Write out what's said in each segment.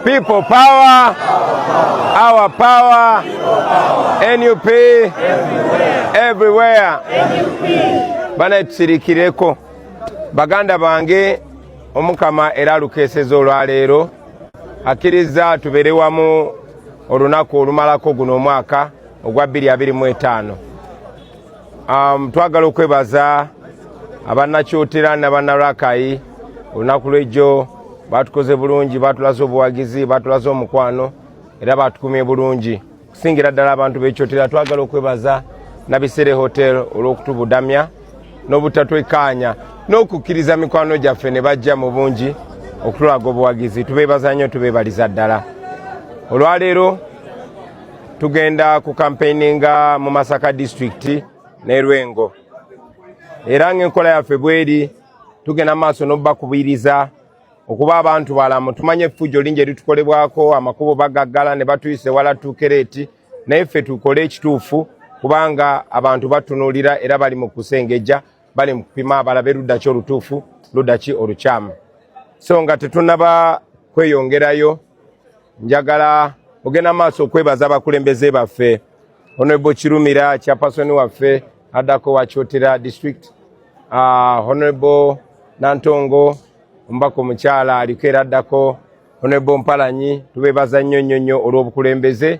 People power, our power, NUP everywhere. Bana tusirikireko baganda bange omukama era alukeeseza olwaleero akkirizza tubeere wamu olunaku olumalako guno omwaka ogwa 225 Um, twagala okwebaza abanakyotera nabanarakai olunaku lwejjo batukoze bulungi batulaze obuwagizi batulaze omukwano era batukumye bulungi okusingira ddala abantu bekyotera twagala okwebaza nabisere hotel olwokutubudamya nobutatwekaanya n'okukkiriza mikwano gyaffe ne bajja mu bungi okutulaga obuwagizi tubeebaza nnyo tubeebaliza ddala olwaleero tugenda ku kampeininga mu masaka disitulikiti ne lwengo era ngaenkola yaffe bweri tugenda maaso nobakubiriza okuba abantu balamu tumanye efujjo lingi eritukolebwako amakubo bagaggala ne batuyisa ewala tuukera eti naye ffe tukole ekituufu kubanga abantu batunulira era bali mu kusengejja bali mu kupima abalabe ludda ki olutuufu ludda ki olukyamu so nga tetunaba kweyongerayo njagala ogenda maaso okwebaza abakulembeze baffe honorable kirumira kyapasoni waffe addako wakyotera district uh, honorable nantongo omubaka omukyala aliko era addako honorable mpalanyi tubebaza nnyo nnyo nnyo olw'obukulembeze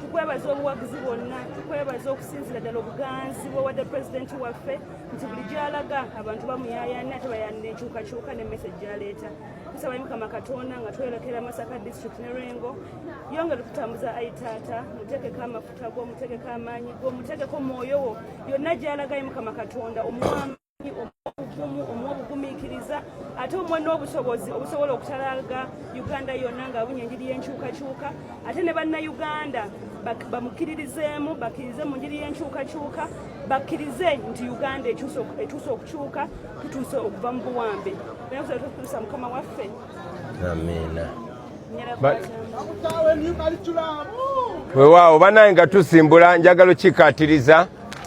tukwebaza obuwagizi bwonna tukwebaza okusinzira ddala obuganzi bwewadde pulezidenti waffe nti buli gyalaga abantu bamuyayana ate bayanira enkyukakyuka nemmese gyaleeta tusaba mukama katonda nga tweyolekera masaka district ne lwengo yongera okutambuza ayi taata mutegeko amafuta go mutegeko amaanyi go mutegeko mwoyo wo yonna gyalagayi mukama katonda omuwamba obuvumu omwobugumiikiriza ate omwa n'obusobozi obusobola okutalaga uganda yonna ng'abunya enjiri y'enkyukakyuka ate ne bannayuganda bamukkiririzeemu bakkirize mu njiri y'enkyukakyuka bakkirize nti uganda etuuse okukyuka tutuuse okuva mu buwambe nayetutuusa mukama waffe amiina wewaawo banaye nga tusimbula njagala okikatiriza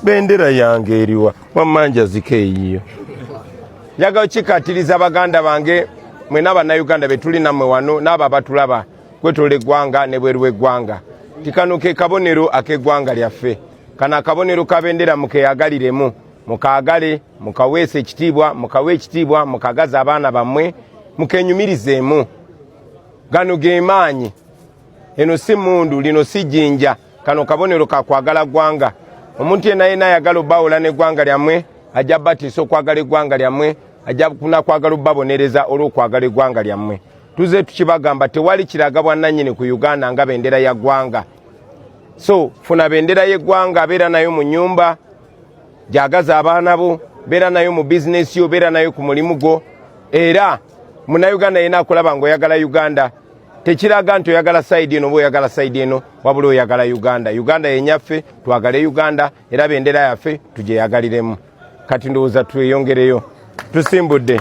bendera yange eriwa wamma njazika eyiyo njagala okikatiriza baganda bange mwena bannayuganda betuli nammwe wano n'abo abatulaba kwetola eggwanga ne bweru w'eggwanga ti kano ke kabonero ak'eggwanga lyaffe kano akabonero kabendera mukeyagaliremu mukaagale mukaweesa ekitiibwa mukawe ekitiibwa mukagaza abaana bammwe mukenyumirizeemu gano ge maanyi eno si mundu lino si jinja kano kabonero ka kwagala ggwanga omuntu yena yena ayagala obbawula n'eggwanga lyammwe ajja batiisa okwagala eggwanga lyammwe ajja kunakwagala obbabonereza olw'okwagala eggwanga lyammwe tuze tukibagamba tewali kiraga bwannannyini ku uganda nga bendera ya ggwanga so funa bendera y'eggwanga beera nayo mu nyumba gyagaza abaana bo beera nayo mu bizinesi yo beera nayo ku mulimu gwo era munayuganda yena akulaba ngaoyagala uganda tekiraga nti oyagala sayidi eno oba oyagala sayidi eno wabula oyagala uganda uganda yenyaffe twagale uganda era bendera yaffe tugyeyagaliremu kati ndowooza tweyongereyo tusimbudde